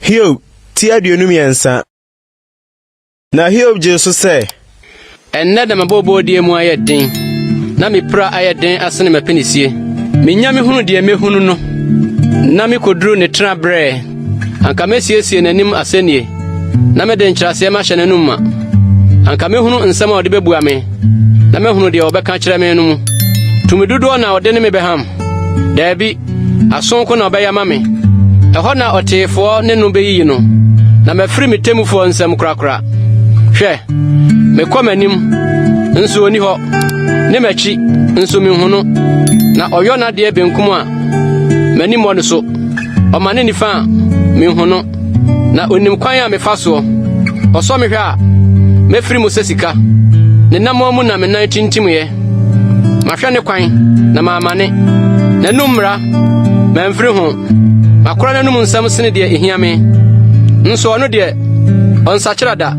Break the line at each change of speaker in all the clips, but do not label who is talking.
Hiob ti aduonu mmiɛnsa. Na Hiob gyee so sɛ. Ɛnnɛ na
m'abɔbɔdeɛ mu ayɛ den, na me pira ayɛ den asene m'apinisie. Menya mehunu deɛ mehunu no, na mekoduru ne tena berɛ. Anka mesiesie n'anim asɛnnie, na mede nkyerɛaseɛ mahyɛ n'anom ma. Anka mɛhunu nsɛm a ɔde bɛbua me, na mɛhunu deɛ ɔbɛka kyerɛ me no mu. Tumi dodoɔ na ɔde ne me bɛham? Daabi, aso nko na ɔbɛyɛ ama me. Ɛhɔ na ɔteefoɔ ne no bɛyiyi no, na mafiri me temmufoɔ nsam korakora. Hwɛ, mekɔ m'anim, nso ɔni hɔ, ne m'akyi, nso menhu no, na ɔyɔ n'adeɛ benkum a, m'ani mmɔ no so. ɔma ne nifa a mehu no na onim kwan a mefa soɔ ɔsɔ me hwɛ a mɛfiri mu sɛ sika ne namɔn mu na me nan tintimyɛ mahwɛ ne kwan na maamane n'anum mmara mamfiri ho makora n'anum nsɛm sene deɛ ɛhia me nso ɔno deɛ ɔnsakyera da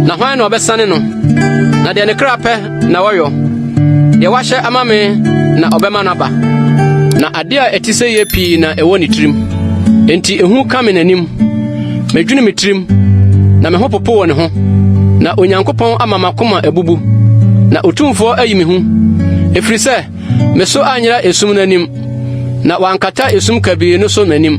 na hwan na ɔbɛsane no na deɛ ne kra pɛ na wɔyɔ. Deɛ wahyɛ ama me na ɔbɛma no aba. Na adeɛ a ɛte sɛ yɛ pii na ɛwɔ ne tirim. Enti ehu ka me n'anim. Medwene me tirim, na me ho popo wɔ ne ho. Na Onyankopɔn ama m'akoma abubu, na Otumfoɔ ayi me hu. Ɛfiri sɛ me so anyera esum no anim, na wankata esum kabii no so m'anim.